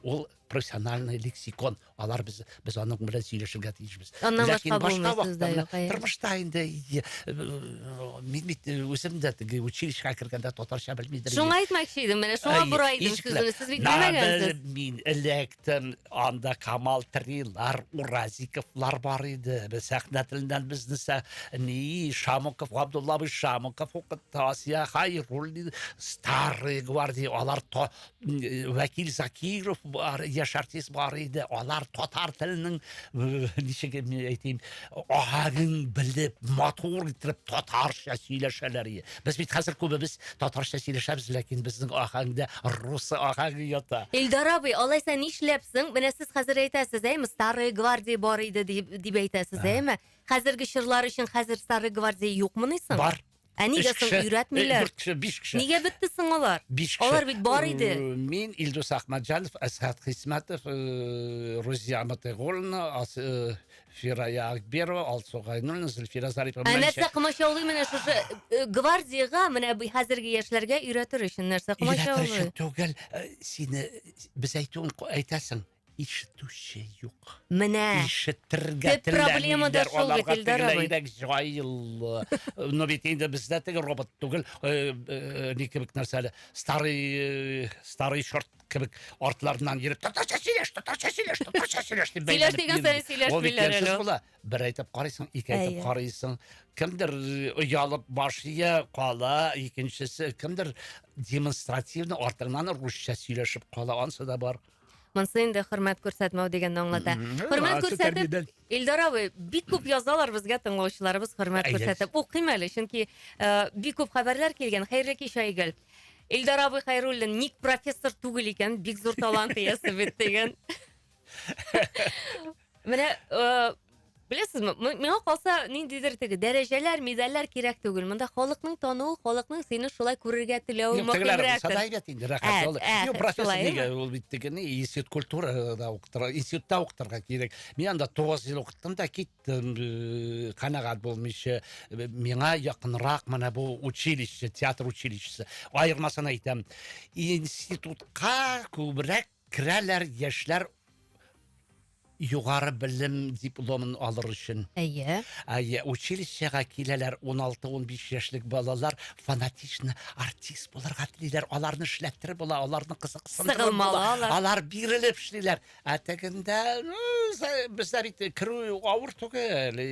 ул профессиональный лексикон алар без без аның белән сөйләшергә тиешбез аннан башка башка вакытта тормышта инде э, мин бит э, үзем дә теге училищега кергәндә татарча белмидер шуңа әйтмәкче идем менә шуңа борайдым сүземне сез бит белмәгәнсез мин электен анда камал трилар уразиковлар бар иде без сәхнә теленнән безне ни шамуков абдуллабый шамуков укытты асия хайруллин старый гвардия алар вәкил закиров бар яшь артист бар иде алар татар теленең ничек әйтим аһәген белеп матур итеп татарча сөйләшәләр иде без бит хәзер күбебез татарча сөйләшәбез ләкин безнең аһәңдә рус аһәңе ята илдар абый алайса нишләпсең менә сез хәзер әйтәсез әйме старые гвардии бар иде дип әйтәсез әйме хәзерге чорлар өчен хәзер старые гвардии юкмыни соң бар Ә Өч нигә соң кеше, өйрәтмиләр? Дүрт кеше, биш кеше. Нигә бетте соң алар? Биш кеше. Алар бит бар иде. Э, Мин Илдус Ахмаджанов, Әсхат Хисмәтов, э, Рузия Матыйгуловна, Ас- э, Фирая Акберова, Алсу Гайнуллина, Зөлфира Зарипова. Ә Менә нәрсә ничә- комачаулый менә шушы э, гвардиягә менә бу хәзерге яшьләргә өйрәтер өчен нәрсә Өйрәтер комачаулый? өчен түгел, э, сине без әйтүен ку- әйтәсең. Ишетүче юк. Менә. Ишетергә Төп проблема да теләмиләр. шул бит, Аларга Илдар абый. тегеләйрәк җайлы. Ну бит инде бездә теге робот түгел, э, э, ни кебек нәрсә әле, старый, э, старый шорт кебек артларыннан йөреп, татарча сөйләш, татарча сөйләш, татарча сөйләш дип Сөйләш бәйләнеп дигән йөри. саен сөйләшмиләр Ул бит әле ямьсез ул. була. Бер әйтеп карыйсың, ике әйтеп Әйе. карыйсың. Кемдер э, оялып баш ия, кала, икенчесе кемдер демонстративно артыңнан русча сөйләшеп кала, ансы да бар. Монсы инде хөрмәт күрсәтмәү дигәнне аңлата. Хөрмәт күрсәтеп, Илдар абый, бик күп язалар безгә тыңлаучыларыбыз хөрмәт күрсәтеп. Укыйм әле, чөнки э, бик күп хәбәрләр килгән. Хәерле кич, Айгөл. Илдар абый Хайруллин ник профессор түгел икән, бик зур талант иясе бит дигән. Менә э, беләсезме, м- миңа калса ниндидер теге дәрәҗәләр, медальләр кирәк түгел. Монда халыкның тануы, халыкның сине шулай күрергә теләве Юк, тегеләр булса да мөһимрәктер. әйбәт инде, рәхәт. Ә, Ул- ә, Юк, профессор шулай, нигә? Ул бит теге ни, институт культурада укытырга, институтта укытырга кирәк. Мин анда тугыз ел укыттым да киттем, э, канәгать булмыйча. Э, Миңа якынрак менә бу училище, театр училищесы. Аермасын әйтәм. Институтка күбрәк Керәләр яшьләр югары белем дипломын алыр өчен. Әйе. Әйе, училищега киләләр 16-15 яшьлек балалар, фанатично артист булырга телиләр, аларны эшләтер була, аларны кызыксындырып була, алар бирелеп эшлиләр. Ә тегендә, ну, бездә бит керү авыр түгел,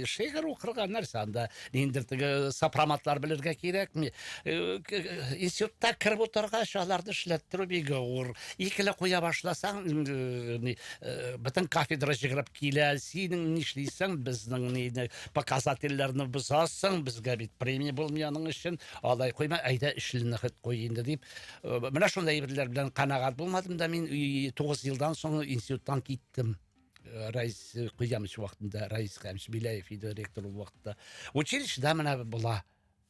шигырь укырга нәрсә анда, Ниндер теге сопроматлар белергә кирәкми. Э, к- э, Институтта кереп утыргач, аларны эшләттерү бик авыр. Икеле куя башласаң, э, ни, э, бөтен кафедра җыгрып килә. Синең нишлисең, безнең ни, ни, показательләрне бозасың, безгә бит премия булмый аның өчен. Алай куйма, әйдә эшлене хет куй инде дип. Э, Менә шундый әйберләр белән канәгать булмадым да мин и- тугыз елдан соң институттан киттем. Э, райс э, куямыш вакытында райс һәм шбиләев иде ректор ул вакытта училищеда менә була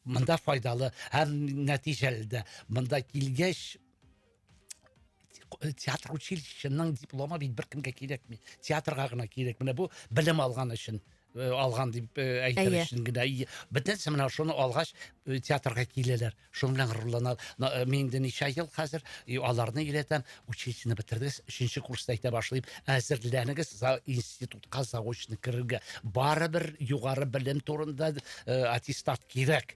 монда файдалы һәм нәтиҗәле дә монда килгәч э, театр училищеның дипломы бит беркемгә кирәкми театрга гына кирәк менә бу белем алган өчен Э, алган дип э, әйтер өчен генә бөтенесе менә шуны алгач э, театрга киләләр шуның белән горурланабыз мин инде ничә ел хәзер аларны өйрәтәм училищены бетердегез өченче курста әйтә башлыйм әзерләнегез институтка заочно керергә барыбер югары белем турында аттестат кирәк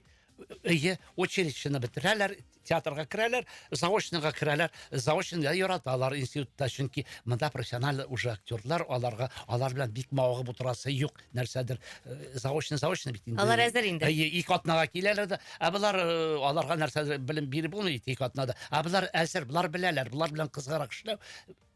өе училищены бетерәләр театрга керәләр заочныйга керәләр заочныйда яраталар институтта чөнки монда профессиональ уже актерлар аларга алар белән бик мавыгып утырасы юк нәрсәдер э, заочный заочный бит инде алар әзер инде әйе ике атнага киләләр дә ә болар э, аларга нәрсәдер белем биреп булмый бит ике атнада ә болар әзер болар беләләр болар белән кызыграк эшләү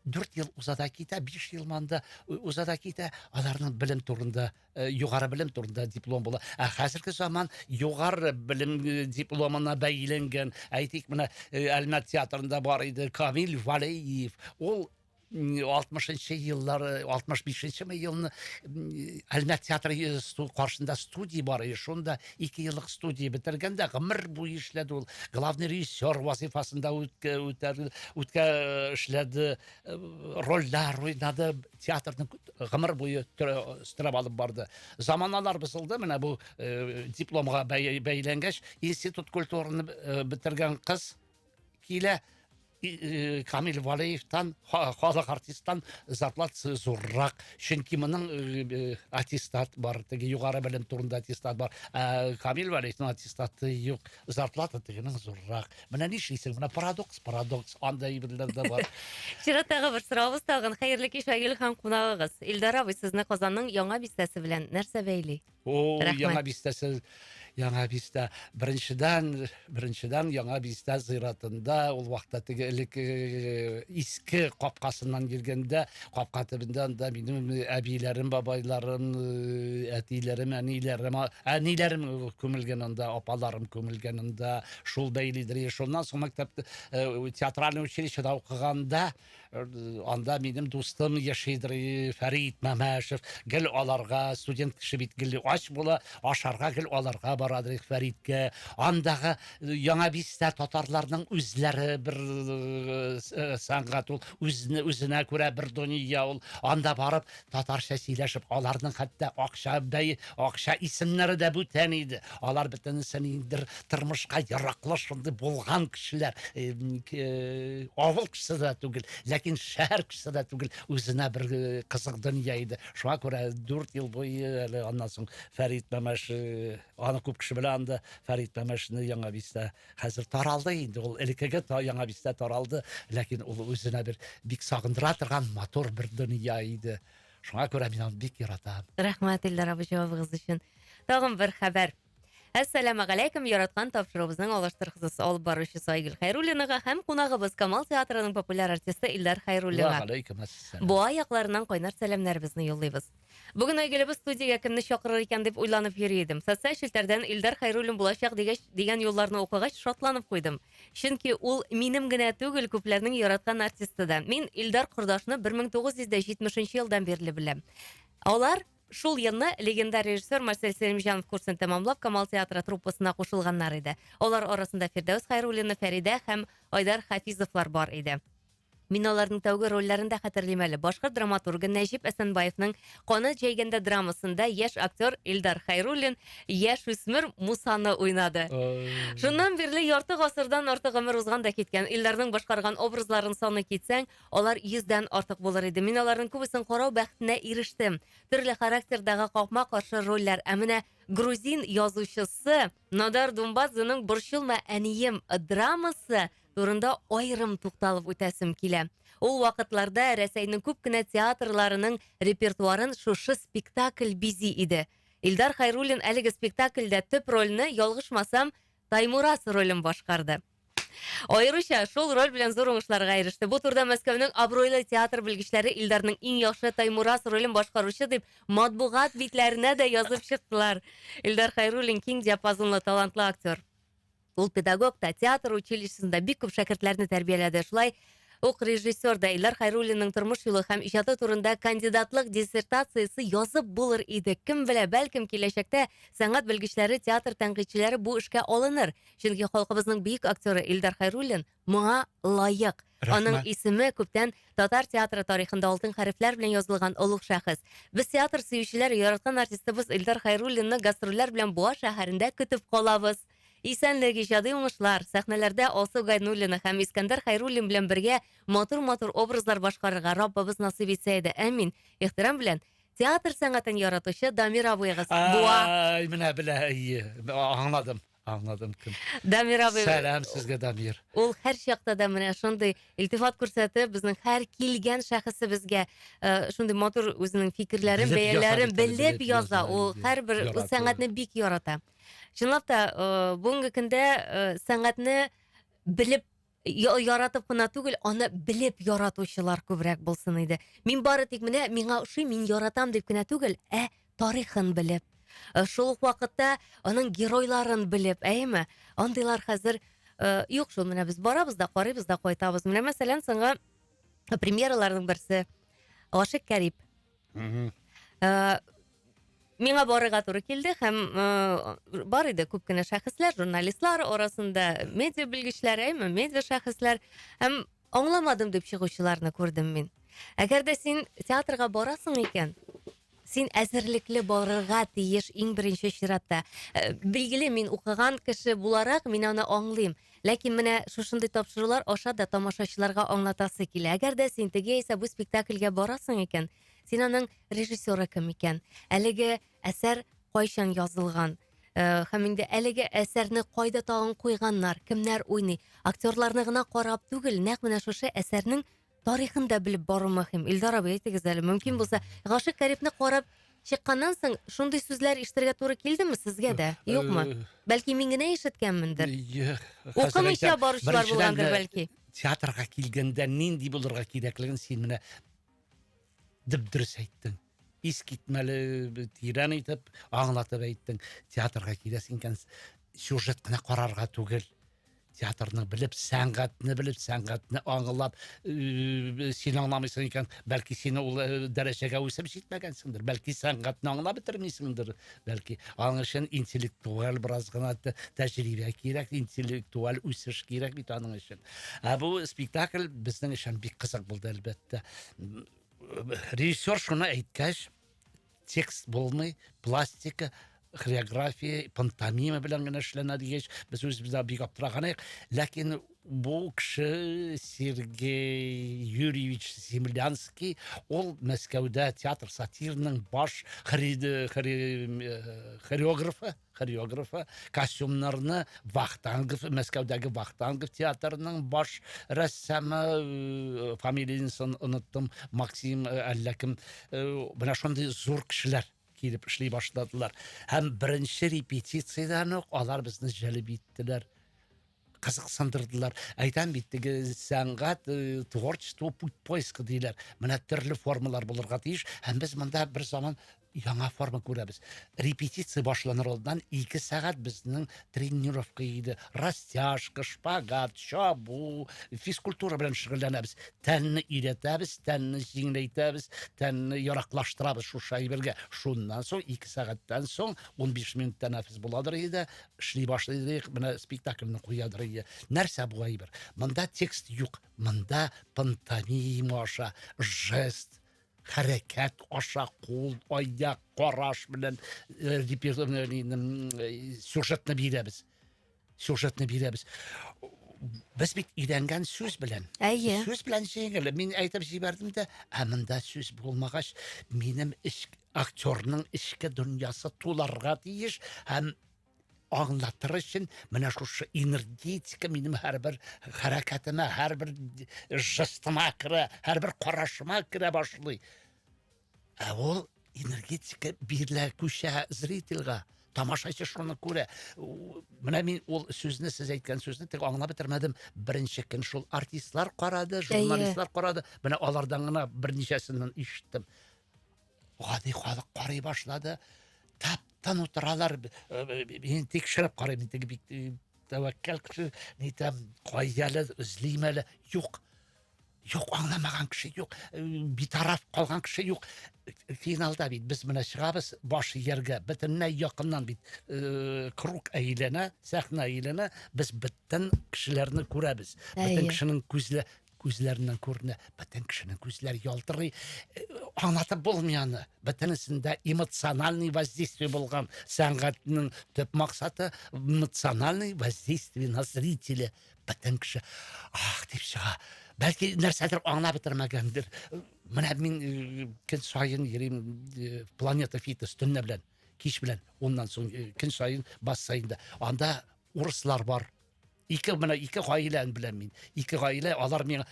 дүрт ел уза да китә биш ел монда уза да китә аларның белем турында Э, югары белем турында диплом була. Ә хәзерге заман югары белем э, дипломына бәйләнгән, әйтик, менә э, Әлмәт театрында бар иде Камил Валеев. Ул 60-нчы еллар, 65-нче елны Әлмәт театры каршында студия бар иде. Шунда 2 еллык студия бетергәндә гомер буе эшләде ул. Главный режиссер вазифасында үткә үткә эшләде, рольләр уйнады, театрның гомер буе стрәп алып барды. Заманалар бозылды, менә бу э, дипломга бәйләнгәч, институт культураны э, бетергән кыз килә, э, Камил Валеевтан, халык артисттан зарплат зуррак. Чөнки моның э, э, аттестат бар, теге югары белем турында аттестат бар. Ә Камил Валеевның аттестаты юк. зарплата тегенең зуррак. Менә нишлисең, менә парадокс, парадокс, андай әйберләр дә бар. Чираттагы бер сорабыз тагын. Хәерле кич, Айгөл һәм кунагыгыз. Илдар абый, сезне Казанның яңа бистәсе белән нәрсә бәйли? О, Рәхмәт. яңа бистәсе, яңа бистә. Беренчедән, беренчедән яңа бистә зыйратында ул вакытта теге элек э, иске капкасыннан йөргәндә капка төбендә анда минем әбиләрем бабайларым әтиләрем әниләрем әниләрем күмелгән анда апаларым күмелгән анда шул бәйлидер шуннан соң мәктәп театральный училищеда укыганда анда минем дустым яшидер фәрид мәмәшев гел аларга студент кеше бит гел ач була ашарга гел аларга барадыр фәридкә андагы Яңа Биста татарларның үзләре бер сәнгать ул, үзне үзенә күрә бер дөнья ул. Анда барып татарча сөйләшеп, аларның хәтта акча бәй, акча исемнәре дә бүтән иде. Алар бөтенесе ниндидер тормышка яраклы шундый булган кешеләр. Авыл кешесе дә түгел, ләкин шәһәр кешесе дә түгел, үзенә бер кызык дөнья иде. Шуңа күрә 4 ел буе әле аннан соң Фәрит Мәмәш Аны күп кеше белә анда Фәрит Мәмәшне Яңа Бистә. Хәзер таралды инде ул элеккеге та Яңа Бистә таралды, ләкин ул үзенә бер бик сагындыра торган матур бер дөнья иде. Шуңа күрә мин аны бик яратам. Рәхмәт, Илдар абый, җавабыгыз өчен. Тагын бер хәбәр. Әссәламә галәйкем, яраткан тапшыруыбызның алыштыргысыз алып баручысы Айгөл Хәйруллинага һәм кунагыбыз Камал театрының популяр артисты Илдар Хәйруллинга. Ва галәйкем әссәлам. Буа якларыннан кайнар сәламнәребезне юллыйбыз. Бүген Айгөлебез студиягә кемне чакырыр икән дип уйланып йөри идем. Социаль челтәрдән Илдар Хайруллин булачак дигәч, дигән юлларны укыгач, шатланып куйдым. Чөнки ул минем генә түгел, күпләрнең яраткан артисты да. Мин Илдар кордашны 1970 елдан бирле беләм. Алар шул елны легендар режиссер Марсель Сәлимҗанов курсын тәмамлап, Камал театры труппасына кушылганнар иде. Алар арасында Фирдәүс Хайруллина, Фәридә һәм Айдар Хафизовлар бар иде. Мин аларның тәүге рольләрен дә хәтерлим әле. Башкорт драматургы Нәҗип Әсәнбаевның Канат җәйгәндә драмасында яшь актер Илдар Хайруллин яшь үсмер Мусаны уйнады. Шуннан бирле ярты гасырдан артык гомер узган да киткән. Илдарның башкарган образларын саный китсәң, алар йөздән артык булыр иде. Мин аларның күбесен карау бәхетенә ирештем. Төрле характердагы капма-каршы рольләр. Ә менә грузин язучысы Надар Думбадзеның Борчылма, әнием драмасы турында аерым тукталып үтәсем килә. Ул вакытларда Рәсәйнең күп кенә театрларының репертуарын шушы спектакль бизи иде. Илдар Хайруллин әлеге спектакльдә төп рольне, ялгышмасам, Таймурас ролен башкарды. Аеруча шул роль белән зур уңышларга иреште. Бу турыда Мәскәүнең абруйлы театр белгечләре Илдарның иң яхшы Таймурас ролен башкаручы дип матбугат битләренә дә язып чыктылар. Илдар Хайруллин киң диапазонлы талантлы актер. Ул педагог та, театр училищесында бик күп шәкертләрне тәрбияләде. Шулай ук режиссер да Илдар Хайруллинның тормыш юлы һәм иҗаты турында кандидатлык диссертациясе язып булыр иде. Кем белә, бәлкем киләчәктә сәнгать белгечләре, театр тәнкыйтьчеләре бу эшкә алыныр. Чөнки халкыбызның бөек актеры Илдар Хайруллин моңа лаек. Рәхмәт. Аның исеме күптән татар театры тарихында алтын хәрефләр белән язылган олуг шәхес. Без театр сөючеләр яраткан артистыбыз Илдар Хайруллинны гастрольләр белән Буа шәһәрендә көтеп калабыз. Исәнлек, иҗади уңышлар, сәхнәләрдә Алсу Гайнуллина һәм Искәндәр Хайруллин белән бергә матур-матур образлар башкарырга Раббыбыз насыйп итсә иде, әмин. Ихтирам белән, театр сәнгатен яратучы Дамир абыегыз, Буа. Ай, менә белә, әйе, аңладым, аңладым кем. Дамир абый. Сәлам сезгә, Дамир. Ул һәрчакта да менә шундый илтифат күрсәтеп, безнең һәр килгән шәхесебезгә э, шундый матур үзенең фикерләрен, Белеп яза бәяләрен бит әле, белеп белеп яза. яза, Ул әйе. һәрбер Ярата. сәнгатьне бик ярата. Чынлап та, э, бүгенге көндә э, сәнгатьне белеп я- яратып кына түгел, аны белеп яратучылар күбрәк булсын иде. Мин бары тик менә миңа ошый, мин яратам дип кенә түгел, ә тарихын белеп. Э, Шул ук вакытта аның геройларын белеп, әйеме? Андыйлар хәзер э, юк шул менә без барабыз да, карыйбыз да, кайтабыз. Менә мәсәлән, соңгы премьераларның берсе Гашик Кәрип. Э, миңа барырга туры килде һәм э, бар иде күп кенә шәхесләр, журналистлар арасында, медиа белгечләр, әйме, медиа шәхесләр һәм аңламадым дип чыгучыларны күрдем мин. Әгәр дә син театрга барасың икән, син әзерлекле барырга тиеш иң беренче чиратта. Э, билгеле, мин укыган кеше буларак, мин аны аңлыйм. Ләкин менә шушындый тапшырулар аша да тамашачыларга аңлатасы килә. Әгәр дә син теге яисә бу спектакльгә барасың икән, син аның режиссеры кем икән? Әлеге әсәр кайчан язылган? Э, һәм инде әлеге әсәрне кайда тагын куйганнар, кемнәр уйный? Актерларны гына карап түгел, нәкъ менә шушы әсәрнең тарихын да белеп бару мөһим. Илдар абый, әйтегез әле, мөмкин булса, Гашык Карибне карап чыкканнан соң шундый сүзләр ишетергә туры килдеме сезгә дә? Э, Юкмы? Э, бәлки мин генә ишеткәнмендер. Укымыйча баручылар булгандыр бәлки. Театрга килгәндә нинди булырга кирәклеген син менә дөрес әйттең. искитмәле тирән итеп аңлатып әйттең театрга киләсең икән сюжет кына карарга түгел театрны белеп сәнгатьне белеп сәнгатьне аңлап син аңламыйсың икән бәлки син ул дәрәҗәгә үсеп җитмәгәнсеңдер бәлки сәнгатьне аңлап бетермисеңдер бәлки аның өчен интеллектуаль бераз гына тәҗрибә кирәк интеллектуаль үсеш кирәк бит аның өчен ә бу спектакль безнең өчен бик кызык булды әлбәттә режиссер шуны әйткәч текст булмый пластика хореография пантомима белән генә эшләнә дигәч без үзебез дә бик аптыраган идек ләкин бу кеше сергей юрьевич землянский ул мәскәүдә театр сатирның баш хореографы хореографы, костюмнарны Вахтангов, Мәскәүдәге Вахтангов театрының баш рәссамы, э, фамилиясын оныттым, Максим э, әллә кем, э, менә шундый зур кешеләр килеп эшли башладылар. Һәм беренче репетициядән үк алар безне җәлеп иттеләр. кызыксындырдылар әйтәм бит теге сәнгать э, творчество путь поиска диләр менә төрле формалар булырга тиеш һәм без монда бер заман яңа форма күрәбез репетиция башланыр алдыннан ике сәгать безнең тренировка иде растяжка шпагат чабу физкультура белән шөгыльләнәбез тәнне өйрәтәбез тәнне җиңеләйтәбез тәнне яраклаштырабыз шушы әйбергә шуннан соң ике сәгатьтән соң 15 минут тәнәфес буладыр иде эшли башлыйдык, менә спектакльне куядыр ие. Нәрсә бу әйбер? Монда текст юк, монда пантомима аша, жест, хәрәкәт аша, кул, аяк, караш белән э, э, сюжетны бирәбез. Сюжетны бирәбез. Без бит өйрәнгән сүз белән. Әйе. Сүз белән җиңел. Мин әйтеп җибәрдем дә, ә монда сүз булмагач, минем эч Актерның эчке дөньясы туларга тиеш һәм аңлатыр өчен менә шушы энергетика минем һәрбер хәрәкәтемә, һәрбер жестыма керә, һәрбер карашыма керә башлый. Ә ул энергетика бирелә күчә зрительгә тамашачы шуны күрә менә мин ул сүзне сез әйткән сүзне тек аңлап бетермәдем беренче көн шул артистлар карады журналистлар карады менә алардан гына берничәсеннән ишеттем Гади халык карый башлады. Таптан утыралар. Мин тикшереп карыйм, мин теге бик э, тәвәккәл кеше, нитәм, кайялы, үзлим әле. Юк. Юк, аңламаган кеше юк. Э, битараф калган кеше юк. Финалда бит без менә чыгабыз баш ияргә. Бөтенләй якыннан бит э, круг әйләнә, сәхнә әйләнә. Без бөтен кешеләрне күрәбез. Бөтен кешенең күзле Күзләреннән күренә, бөтен кешенең күзләре ялтырый. Э, Аңлатып булмый аны. Бөтенесендә эмоциональный воздействие булган. Сәнгатьнең төп максаты эмоциональный воздействие на зрителя. Бөтен кеше ах дип чыга. Бәлки нәрсәдер аңлап бетермәгәндер. Менә мин э, көн саен йөрим э, планета фитнес төнлә белән, кич белән. Оннан соң э, көн саен бассейнда. Анда урыслар бар, Ике менә ике гаиләне беләм мин. Ике гаилә, алар миңа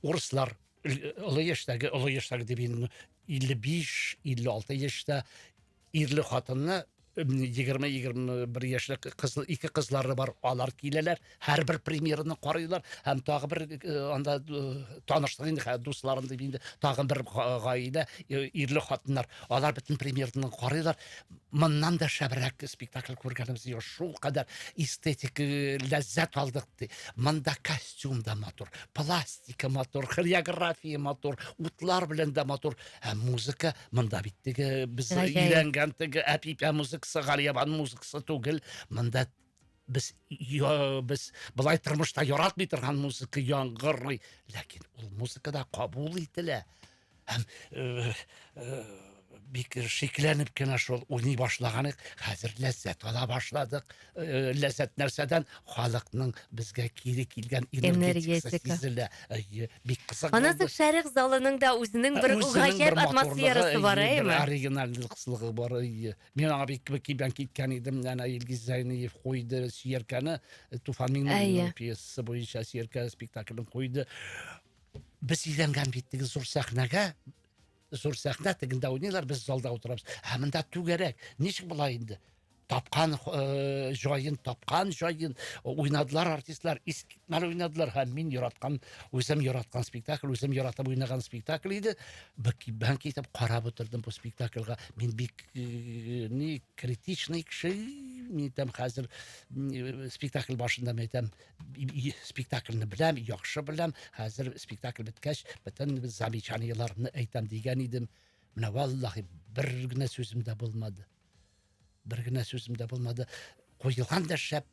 урыслар олы яшьтәге, олы яшьтәге дип инде 55, 56 яшьтә ирле хатынны 20-21 яшьле кыз, ике кызлары бар, алар киләләр, һәрбер премьераны карыйлар, һәм тагы бер э, анда э, таныштык инде, хә, дусларым дип инде, тагы бер га- гаилә, э, ирле хатыннар, алар бөтен премьераны карыйлар. моннан да шәбрәк спектакль күргәнебез юк шулкадәр эстетик э, ләззәт алдык ди монда костюм да матур пластика матур хореография матур утлар белән дә матур ә музыка монда бит теге без өйрәнгән теге әпипә музыкасы галиябан музыкасы түгел монда без я, без былай тормышта яратмый торган музыка яңгырый ләкин ул музыка да кабул ителә Һәм бик шикләнеп кенә шул уйный башлаган идек. Хәзер ләззәт ала башладык. Ләззәт нәрсәдән? Халыкның безгә кире килгән энергетикасы сизелә. Бик кызык. Анасы шәрык залының да үзенең бер гаҗәп атмосферасы бар, әйеме? Оригинальлыгы бар. Мин аңа бик кибән киткән идем. Әнә Илгиз Зәйниев куйды Сияркәне, Туфан Миңнуллинның пьесасы буенча Сияркә спектаклен куйды. Без өйләнгән бит теге зур сәхнәгә, зур сәхнә тегендә уйныйлар, без залда утырабыз. Ә монда түгәрәк. Ничек болай инде? Тапкан э, җаен, тапкан җаен уйнадылар артистлар, искитмәле уйнадылар һәм мин яраткан, үзем яраткан спектакль, үзем яратып уйнаган спектакль иде. Бән китеп карап утырдым бу спектакльга. Мин бик э, ни критичный кеше, мин әйтәм хәзер м, э, спектакль башында мин әйтәм, спектакльне беләм, яхшы беләм. Хәзер спектакль беткәч, бөтен замечаниеләрне әйтәм дигән идем. Менә валлахи бер генә сүзем дә булмады. Бер генә сүзем дә булмады. Куелган да шәп,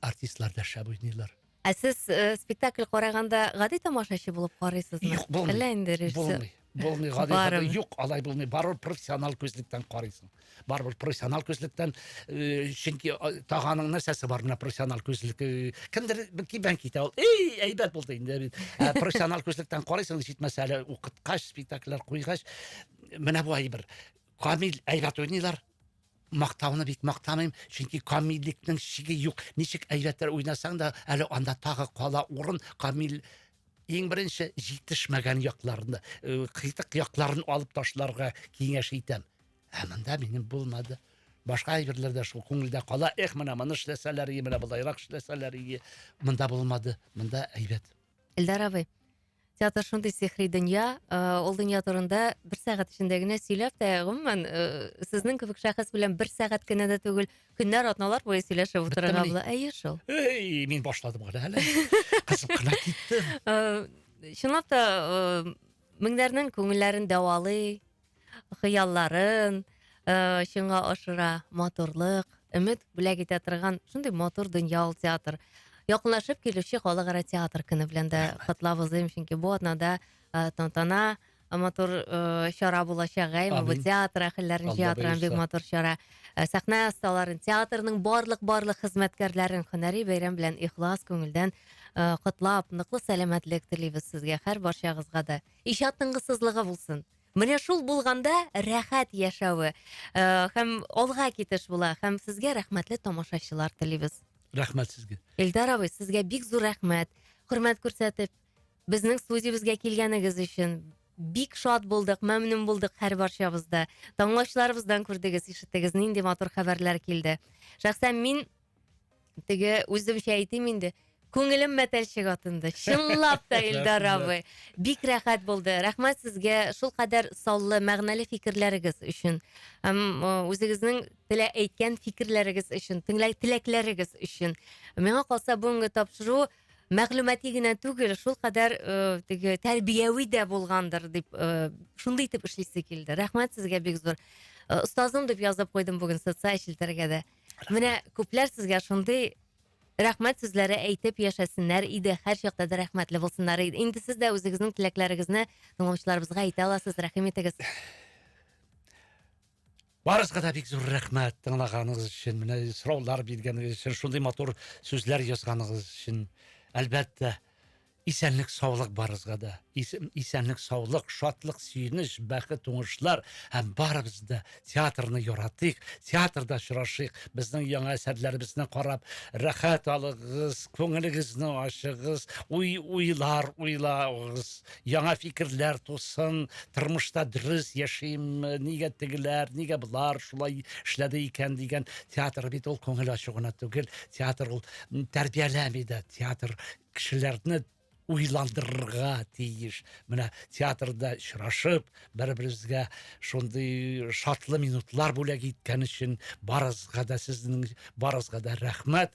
артистлар да шәп уйныйлар. Ә сез э, спектакль караганда гади тамашачы булып карыйсызмы? Юк, булмый. Әллә инде режиссер? Булмый, Булмый, гади Барыбер. гади. Юк, алай булмый. Барыбер профессионал күзлектән карыйсың. Барыбер профессионал күзлектән, э, чөнки а, таганың нәрсәсе бар менә профессионал күзлек. э, Кемдер бер кибән китә ул. Эй, әйбәт булды инде. бит. Ә профессионал күзлектән карыйсың, җитмәсә әле укыткач, спектакльләр куйгач, менә бу әйбер. Камил әйбәт уйныйлар. Мактауны бик мактамыйм, чөнки камиллекнең чиге юк. Ничек әйбәтләр уйнасаң да, әле анда тагы кала урын. Камил иң беренче җитешмәгән якларны э, кыйтык якларын алып ташларга киңәш итәм ә монда минем булмады башка әйберләрдә шул күңелдә кала эх менә моны эшләсәләр ие менә болайрак эшләсәләр ие монда булмады монда әйбәт эльдар абый театр шундый сихри дөнья э, ул дөнья турында бер сәгать эчендә генә сөйләп тә гомумән э, сезнең кебек шәхес белән бер сәгать кенә дә түгел Көннәр, атналар буе сөйләшеп утырырга була. Әйе шул. Эй, мин башладым гына әле. Кызып кына киттем. Э, чынлап та э, меңнәрнең күңелләрен дәвалый, хыялларын э, чынга ашыра, матурлык, өмет бүләк итә торган шундый матур дөнья ул театр. Якынлашып килүче халыкара театр көне белән дә котлап узыйм, чөнки бу атнада тантана матур ыыы чара булачак әмин театр әһелләрен җыя торган бик матур чара ә сәхнә осталарын театрның барлык барлык хезмәткәрләрен һөнәри бәйрәм белән ихлас күңелдән ыыы котлап ныклы сәламәтлек телибез сезгә һәр барчагызга да иҗат тынгысызлыгы булсын менә шул булганда рәхәт яшәве ыыы һәм алга китеш була һәм сезгә рәхмәтле тамашачылар телибез рәхмәт сезгә эльдар абый сезгә бик зур рәхмәт хөрмәт күрсәтеп Безнең студиябезгә килгәнегез өчен бик шат булдык, мәмнүн булдык һәр барчабызда. Таңлаучыларыбыздан күрдегез, ишеттегез, нинди матур хәбәрләр килде. Шәхсән мин теге үземчә әйтим инде, күңелем мәтәлчек атынды. Чынлап та Илдар абый. Бик рәхәт булды. Рәхмәт сезгә шул кадәр саллы, мәгънәле фикерләрегез өчен. Һәм э, үзегезнең телә әйткән фикерләрегез өчен, тыңлай теләкләрегез өчен. Миңа калса бүгенге тапшыру мәгълүмати генә түгел, шул кадәр э, теге тәрбияви дә булгандыр дип э, шундый итеп эшлисе килде. Рәхмәт сезгә бик зур. Э, Остазым дип язып куйдым бүген социаль челтәргә дә. Менә күпләр сезгә шундый рәхмәт сүзләре әйтеп яшәсеннәр иде, һәр чакта да рәхмәтле булсыннар иде. Инде сез дә үзегезнең теләкләрегезне тыңлаучыларыбызга әйтә аласыз, рәхим итегез. Барысына да бик зур рәхмәт тыңлаганыгыз өчен, менә сораулар биргәнегез өчен, шундый матур сүзләр язганыгыз өчен. Әлбәттә, исәнлек саулык барысына да. Исәнлек саулык, шатлык, сөенеч, бәхет, уңышлар һәм барыбыз да театрны яратыйк, театрда очрашыйк. Безнең яңа әсәрләребезне карап, рәхәт алыгыз, күңелегезне ачыгыз, уй уйлар уйлагыз. яңа фикерләр тусын, тормышта дөрес яшимме, нигә тегеләр, нигә болар шулай эшләде икән дигән театр бит ул күңел ачу гына түгел, театр ул тәрбияләми дә, театр кешеләрне уйландырырга тиеш. Менә театрда очрашып, бер-беребезгә шундый шатлы минутлар бүләк иткән өчен барысга да сезнең барысга да рәхмәт.